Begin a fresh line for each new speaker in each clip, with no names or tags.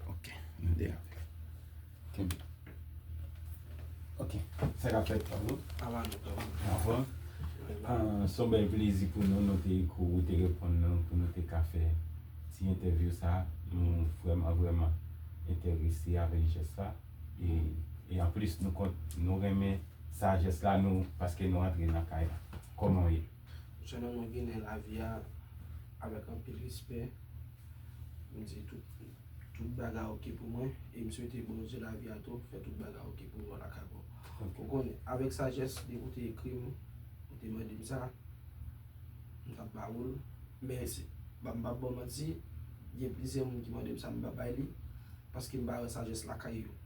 Ok, nou de ap. Kenbe. Ok, sa ka fèt pa nou. Avan nou pran. Avan. Son bèl plezi pou nou nou te kou ou te reponn nou pou nou te ka fè ti entèvyou sa. Nou vreman vreman enterese avèk jès la. E anplis nou kont nou renmen sa jès la nou paske nou antre nan kay la. Kòman ou ye? Mwen se yon nonm ginen
lavi a avèk anpil respè. Mwen di tout bagay ok pou mwen e m swete Bondye lavi a tou fè tout bagay ok pou nou lakay mwen. Ou konnen, avèk sajès depi ou te ekri m, ou te mande m sa, m t ap ba ou l. Men, m pap ba w manti, gen plizyè moun ki mande m sa m pa bay li paske m pa wè sajès lakay yo.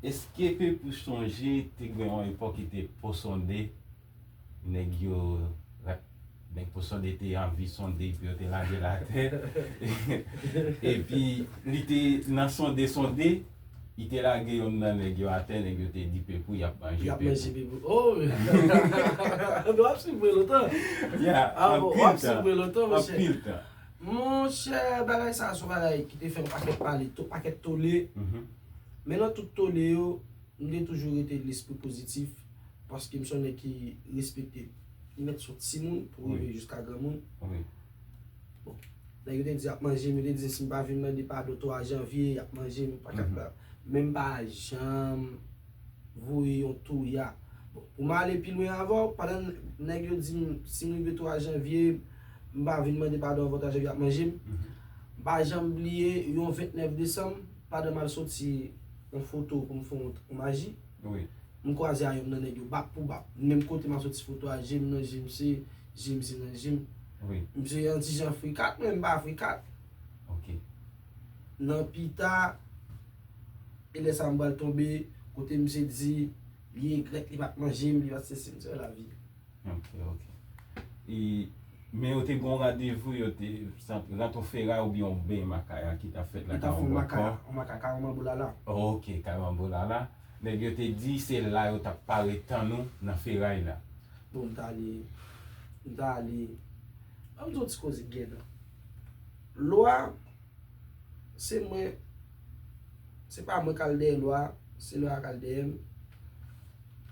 Eske ke pou chonje te gen yon epòk ki te po sonde nèg yo nèg po sonde te anvi sonde epi yo te lage l atè epi li te nan sonde sonde li te lage yonn nan nèg yo atè nèg yo te di pepou y ap manje pepou
oh
anpil
tan anpil tan.
Monchè
bagay sa son bagay ki te fè yon pakèt pale, yon pakèt tole, men nan tout tole yo, m te toujou rete lespri pozitif, paske m se yon nèg ki respekte li mèt sou timoun pou rive jiska granmoun. Bon, nèg yo te di y ap manje m, yo te di si m pa vin mande padon 3 janvye, y ap manje m, patapata, men m pa janm voye yon touya. Bon, pou m ale pi lwen avè w, pandan nèg yo di m si m rive 3 janvye, M pa vin mande padon avan travy ap manje m. M pa janm bliye yon 29 desanm pandan m al soti yon foto pou m fè yon maji, m
kwaze a yon
nan nèg yo bak pou bak. Menm kote m ap soti foto a je m nan je misye, je misye nan je m. Misye yon
ti jan
frikat men m pa frikat. Nan pita, e lè sa m pral tonbe kote misye di li egrèt li pa t manje m, li pa t sesi m. Se sa lavi. Ok
ok E Men yo te gen yon randevou yo te Sant rant yon feray oubyen yon beny makaya ki ta fèt la Yo ta fè yon makaya Yon makaya
Karanbanboulala Ok Karanbanboulala
Nèg yo te di se la yo ta pare tann ou nan feray la Bon m ta ale
M ta ale An m di w yon ti koze gènan Lwa Se mwen, se pa mwen kal dèyè lwa, se lwa a kal dèyè m.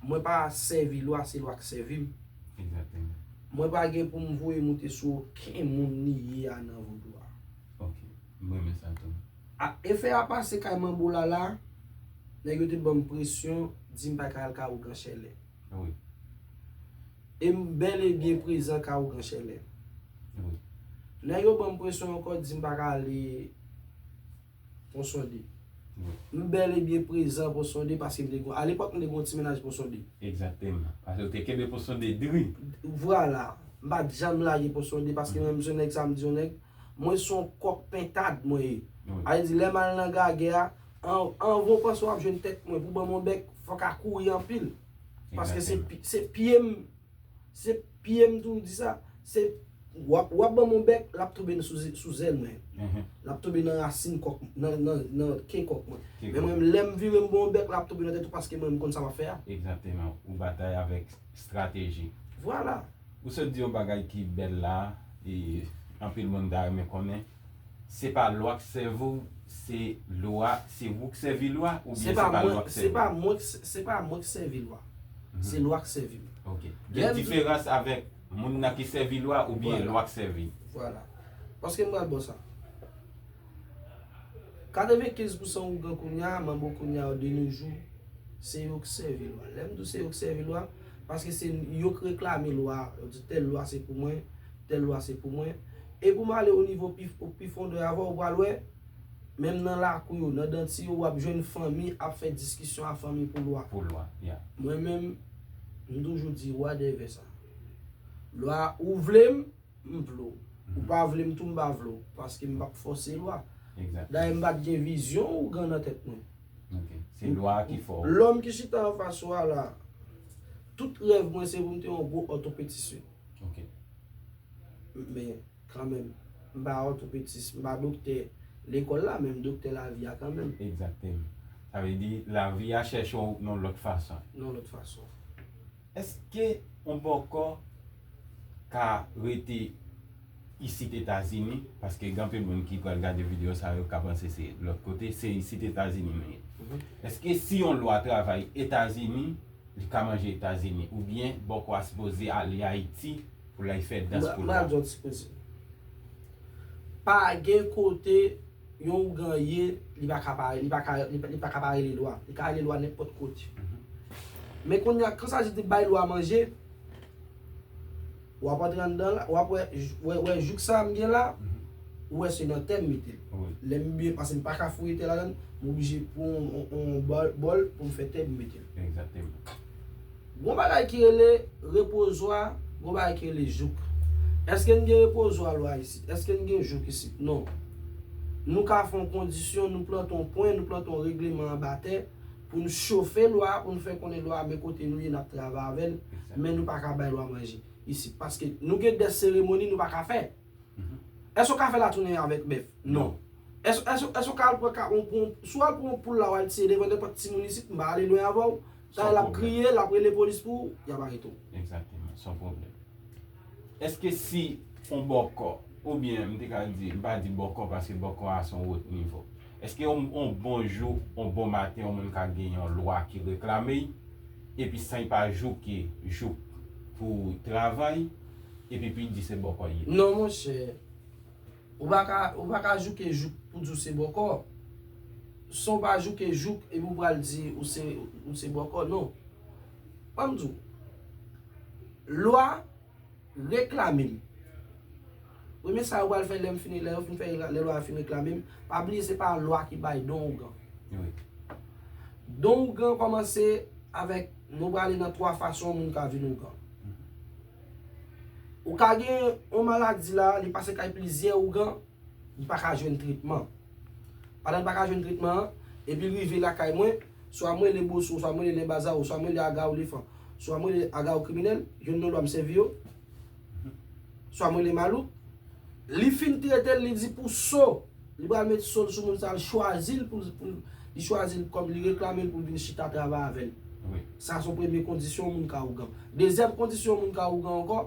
Mwen pa sèvi lwa, se lwa k sèvi m.
Mwen pa gen
pou m voye moute sou oken moun ni ye a nan vodou a.
A efè a
pase kay Manbo Lala, nèg yo te ban m presyon, di m pa ka al kay Ougan Chèlè. Wi. E m bèl e byen prezan ka ou Gran Chèlè. Wi.
Lè yo
ban m presyon ankò di m pa ka ale Ponsonde. Wi. M bèl
e byen prezan
Ponsonde paske m te gon, a lepòk m te gon ti mennaj Ponsonde. Egzakteman. Paske
ou te kenbe Ponsonde dri. Vwala.
M pa t janm lage Ponsonde paske mwen menm se yon nèg sa m di yon nèg, mwen se yon kòk pentad mwen ye. Wi. A vle di lè m al nan gagè a. Anvan w panse w ap jwenn tèt mwen pou ban m yon bèk, fò ka kouri anpil. Paske se pye m, se pye m tou di sa. Se w ap ban m yon bèk, l ap tonbe sou zèl mwen. L ap tonbe nan rasin kòk, nan ke kòk mwen. Men mwen, lè m vire m ban w yon bèk, l ap tonbe nan tèt ou paske mwen m konn sa m ap fè a. Egzakteman. Ou
batay avèk estrateji. Vwala.
Ou sot di yon
bagay ki bèl la, e anpil moun ta renmen konnen. Se pa lwa k sèvi w se lwa se ou k sèvi lwa oubyen se pa lwa k sèvi w? Se pa mwen k se
pa mwen k sèvi lwa se lwa k sèvi m. Ok gen
diferans avèk moun nan ki sèvi lwa oubyen lwa k sèvi l? Vwala
paske m pral ba w sa. Katrevenkenz pousan ougan kounya manb ougan yo de no jou se yo k sèvi lwa. Lè m di w se yo k sèvi lwa paske se yo k reklame lwa yo di tèl lwa se pou mwen. Tèl lwa se pou mwen. E pou m ale o nivo pi o pi fondè avan ou pral wè, menm nan lakou yo, nan danti yo, w ap jwenn fanmi ap fè diskisyon a fanmi pou lwa. Pou lwa, yeah.
Mwen menm,
m toujou di lwa dèvè sa. Lwa ou vle m, m vle w. Ou pa vle m tou m pa vle w. Paske m p ap fòse lwa. Exactly. Dayè m pa
t gen
vizyon ougan nan tèt mwen. Ok. Se
lwa a ki fè w. Lòm ki chita anfas
ou a la, tout rèv mwen se pou m te yon gwo òtopetisyen. Ok. Men, kanmenm, m pa òtopetis, m pa doktè lekòl la, men m doktè lavi a kanmenm. Egzakteman.
Sa vle di, lavi a chèche w yon lòt fason. Yon lòt fason.
Eske
ou poko ka rete isit Etazini, paske gen anpil moun ki pral gade videyo sa yo ka panse se lòt kote, se isit Etazini nou ye. Eske si yon lwa travay Etazini, li ka manje etazini ou byen bòkò a sipoze ale ayiti pou lay fè dans pou lwa.
Pa gen kote yon ougan ye li pa ka pa li pa ka li pa ka pa rele lwa li ka rele lwa nenpòt kote men kounya kan sajid di bay lwa manje. Wap antre anndan la, wap wè, wè, wè jouk sa m gen la, ou wè se nan tè m mete l. Lè m byen, paske m pa ka fouye tè ladann, m oblije pran yon, yon bòl pou m fè tè pou m mete l. Egzakteman. Gon bagay ki rele repozwa, gon bagay ki rele jouk. Eske n gen repozwa lwa isit? Eske n gen jouk isit? Non. Nou ka fè yon kondisyon, nou plante yon pwen, nou plante yon regleman anba tè, pou n chofe lwa a, pou n fè konnen lwa a men kote nou ye n ap travay avè l, men nou pa ka bay lwa manje isit paske nou gen dè seremoni nou pa ka fè. Èske ou ka fè latounen avèk bèf? Non. Èske ou ka al pran ka, si w al pran yon poul la w al tiye devan nenpòt timoun isit, m pa ale lwen avè w, dayè l ap kriye, l ap rele polis pou ou, y ap arete w. Egzakteman, s on
pwoblèm. Èske si yon bòkò, oubyen m te ka di, m pa di bòkò paske bòkò a s on wot nivo. Eske on bon jou, on bon maten yon moun ka gen yon lwa ki reklame y, epi san y pa jouke jouk pou travay, epi pou y di se bòkò y ye? Non monchè,
ou pa ka, ou pa ka jouke jouk pou di w se bòkò. San w pa jouke jouk epi ou pral di ou se, ou se bòkò, non. An m di w, lwa. reklame m. Premye sa yo pral fè lè m fini, lè yo fin fè, lè lwa a fin reklame m, pa bliye se pa lwa ki bay don ougan. Don ougan kòmanse avèk, nou prale nan 3 fason moun ka vin ougan. Ou ka gen yon maladi la, li pase kay plizyè ougan, li pa ka jwenn tretman. Pandan li pa ka jwenn tretman an, epi li rive lakay mwen, Swa m rele Boso, swa m rele Lèbazawo, swa m rele Agaolefan, swa m rele Agaokriminèl, jwenn non lwa m sèvi yo, swa m rele Malouk. Li fin trete l, li di pou so, li pral met so l sou moun sa l chwazi l pou l, li chwazi l kòm, li reklame l pou l vin chita travay avè l. Sa se yon
premye
kondisyon yon moun ka ougan. Dezyèm kondisyon yon moun ka ougan ankò,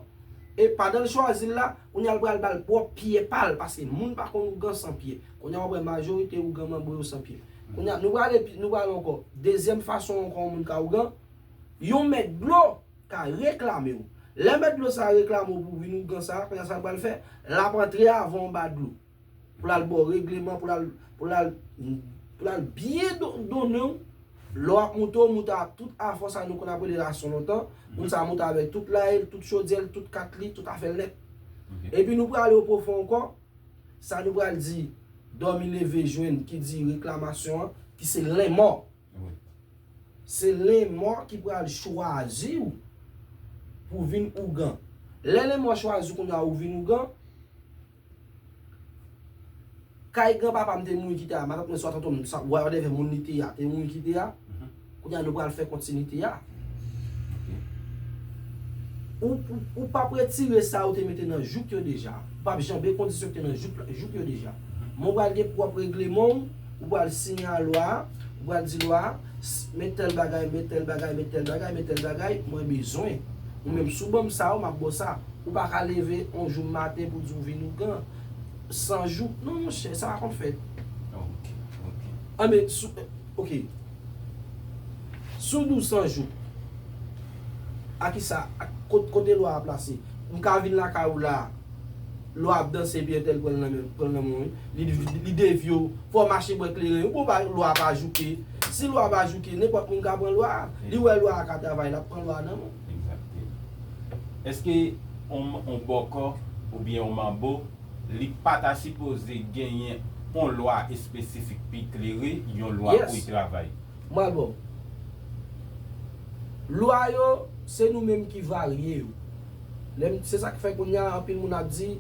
e pandan l chwazi l la, kounye a l pral ba l pwòp pye pa l, paske moun pa konn ougan san pye. Kounye a w ap wè majorite ougan manbre yo san pye. Kounye a, nou pral epi, nou pral ankò. Dezyèm fason ankò yon moun ka ougan, yon mèt dlo ka reklame ou. Lè mèt dlo sa a reklame ou pou w vin ougan sa a, kounye a sa l pral fè? L ap antre avè w anba dlo. Pou l al ba w regleman, pou l al, pou l al, pou l al byen donnen w. Lè w ap moute, w moute ak tout afò sa a nou konn ap rele rason lontan. Moun sa a moute avèk tout laye l, tout chodyè l, tout kat li, tout afè l nèt. Epi nou prale opwofon ankò. Sa nou pral di dòmi leve jwenn ki di reklamasyon an ki se lenmò. Se lenmò ki pral chwazi ou pou vin ougan. Lè lenmò chwazi ou kounya ou vin ougan, kay granpapa m te mouri ki te a, matant mwen swa tonton m, whatever moun li te a, te mouri ki te a, Kounye a nou pral fè kontinite a. Ou p ap retire sa ou te mete nan jouk yo deja. Ou p ap janbe kondisyon ki te nan jouk yo deja. Men ou pral gen pwòp regleman ou, ou pral siyen a lwa a, ou pral di lwa a, men tèl bagay, men tèl bagay, men tèl bagay, men tèl bagay mwen bezwen. Ou menm si w ban m sa, m ap ba w sa. Ou pa ka leve yon jou maten pou w di w vin ougan. San jouk. Non monchè, sa pa konn fèt.
An
men, sou. Ok Sou 12 san jou A kisa a Kote lwa a plase M ka vin lakay ou la Lwa a ap danse epi entèl pran nan menl pran nan menw wi Li li devye w Fò w mache bwè kleren wi pou w pa lwa a pa jouke Si lwa a pa jouke nenpòt moun ka pran lwa a Li
wè
lwa a ka travay lap pran lwa a nan menw. Exactement.
Eske on bòkò oubyen on manbo. Li pa ta sipoze genyen on lwa espesifik pi klere, yon lwa pou y travay.
Mwen
ba w.
Lwa yo, se nou menm ki varye yo. Lè m, se sa k fè kounye a anpil moun ap di,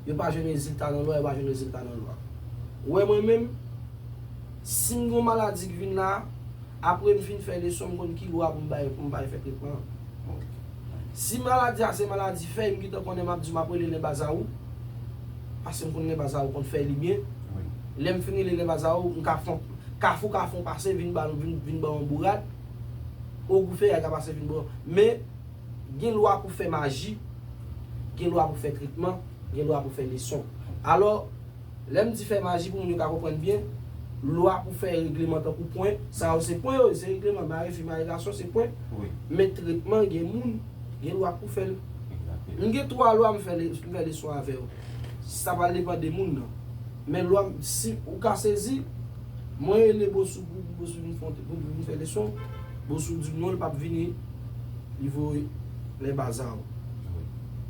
yo pa jwenn rezilta nan lwa, yo pa jwenn rezilta nan lwa. Ou wè mwen menm, si m gen yon maladi k vin la a, Apre m fin fè leson m konn ki lwa pou m bay pou m bay fè tretman an. Si maladi a se maladi fèy m gentan konnen m ap di w m ap rele lèbazawou pase m konn lèbazawou konn fèy li byen. Lè m fin rele lèbazawou m ka fon kafou kafou pase vin ba m vin ban yon bourad ogou fèy a ka pase vin ban men gen lwa pou fè maji gen lwa pou fè tretman gen lwa pou fè leson alò Lè m di fè maji pou moun yo ka konprann byen, lwa pou fè regleman tankou pwen, sa yo se pwen yo ye, se regleman, mare fi, mare gason se pwen. Men tretman gen moun, gen lwa pou fè l. M gen 3 lwa m fè m fè leson avè yo. Sa pral depan de moun nan. Men lwa m si ou ka sezi, mwen rele Bossou pou pou Bossou vin fon pou vin fè leson, Bossou di m non l p ap vini, li voye lè baza yo.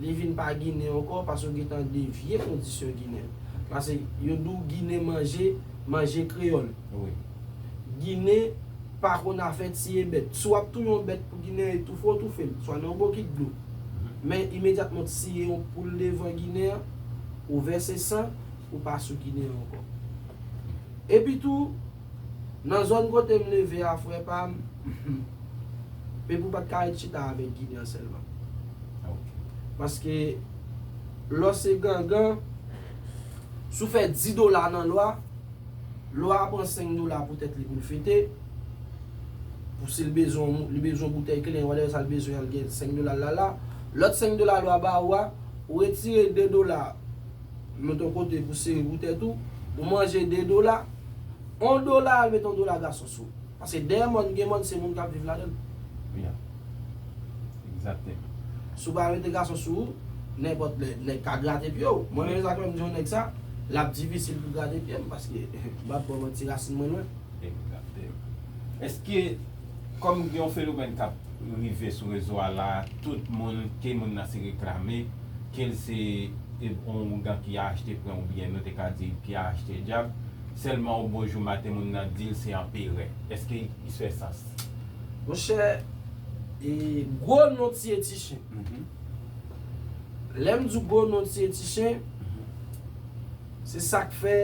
Li vin pa ginen anko pase ou gentan devye kondisyon ginen. Pase yo di w ginen manje, manje kreyol. Wi.
Ginen
pa konn afè tiye bèt. Si w ap touye yon bèt pou ginen an e toufe w toufe l. Swa nan yon bokit dlo. Men imedyatman w tiye yon poul devan ginen an, ou vèse san, ou pa sou ginen an anko. Epi tou. Nan zòn kote m leve a frè pa m, Pepou pa t ka ret chita avèk Ginen sèlman. Paske lè w se gangan, si w fè di dola nan lwa, lwa a pran senk dola pou tèt li pou l fete, pou si l bezwen yon, li bezwen yon boutèy kle, whatever sa l bezwen an, l gen senk dola l la la. Lòt senk dola lwa ba ou a, ou retire de dola. Ou met on kote pou sere pou tèt ou, ou manje 2 dola, on dola al met on dola gason sou. Paske dèyè mòn gen mòn se moun kap viv ladann.
Yeah. Exactement. Si
w pa mete gason sou ou, nenpòt lè nèg ka grate pye w. Mwen menm e sa k fè m di on nèg sa, lap difisil pou grate pye m paske m pap ba w manti rasin mwen lwen. Exactement.
Eske kòm gen on fenomèn kap rive sou rezo a la tout moun ke moun nan se reklame kel se on ougan ki achte pren ou byen nou te ka di ki achte djab selman ou bon jou maten moun nan dil se anperè eske is fè sans? Monchè
e gwo non tiye ti chen lèm di gwo non tiye ti chen. Se sak fè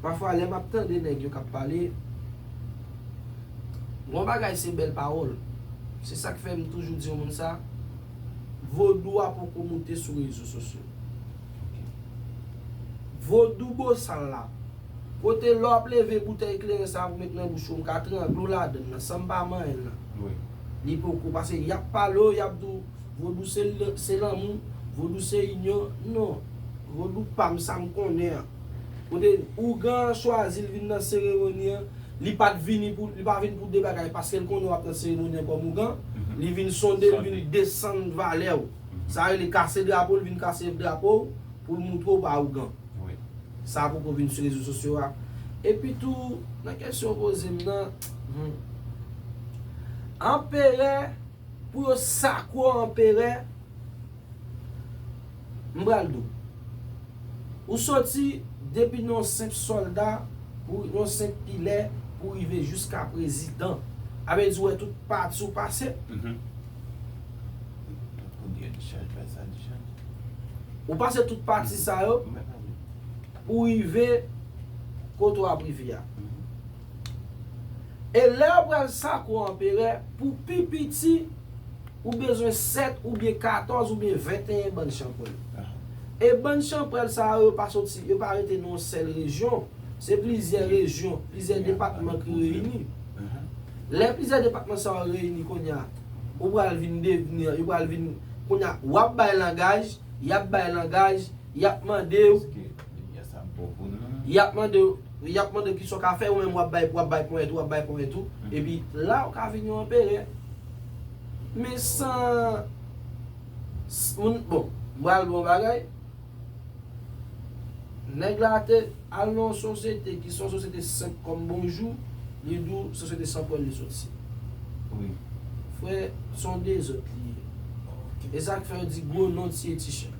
pafwa lè map tande nèg yo kap pale bon bagay se bèl pawòl se sak fè m toujou di yon moun sa vodou a poko moute sou rezo sosyo vodou bosal la kote lè wap leve boutèy kleren sa pou met nan bouch ou m ka trangle w ladann nan san m pa manyen l nan li
poko
pase yap pale w yap di w Vodou se lanmou, vodou se inyon, non, vodou pa m sa m konnen an. Kote ougan an chwazi l vin nan seremoni an, li pa t vini pou, li pa vin pou 2 bagay, paske l konnen w ap nan seremoni an kòm ougan, li vin sonde, li vin desann valè w. Sa yo rele kase drapo, li vin kase drapo w pou l montre w pa ougan. Sa
poko vin
sou rezo sosyo a. Epi tou, nan kesyon w poze m nan, humm. Anperè Pou yo sakwe w anperè M pral di w Ou soti depi nan yon senp sòlda Pou yon senp pilè Pou rive jiska prezidan A vle di w wè tout pati w pase Ou pase tout pati sa yo Pou rive kote w ap rive a. E lè yo pral sakwo anperè, pou pi piti, ou bezwen sèt oubyen katòz oubyen venteyen bann chanpwèl. E bann chanpwèl sa yo, yo pa soti, yo pa rete nan yon sèl rejyon. Se plizyè rejyon, plizyè depatman ki reyini. Lè plizyè depatman sa yo reyini kounye a, ou pral vin devni, yo pral vin, kounye a, w ap bay langaj, y ap bay langaj, y ap mande ou. Yap mandew Yap mandew kisa w ka fè ou menm wap bay wap bay ponyèt ou wap bay ponyèt ou epi la ou ka vin yon anperè men san moun bon m pral bon bagay nèg la te al nan yon sosyete ki se yon sosyete senp kòm bonjou li di w sosyete san pwèl li soti
frè
son dezòd li ye e sak fè yo di gwo non tiye ti chen.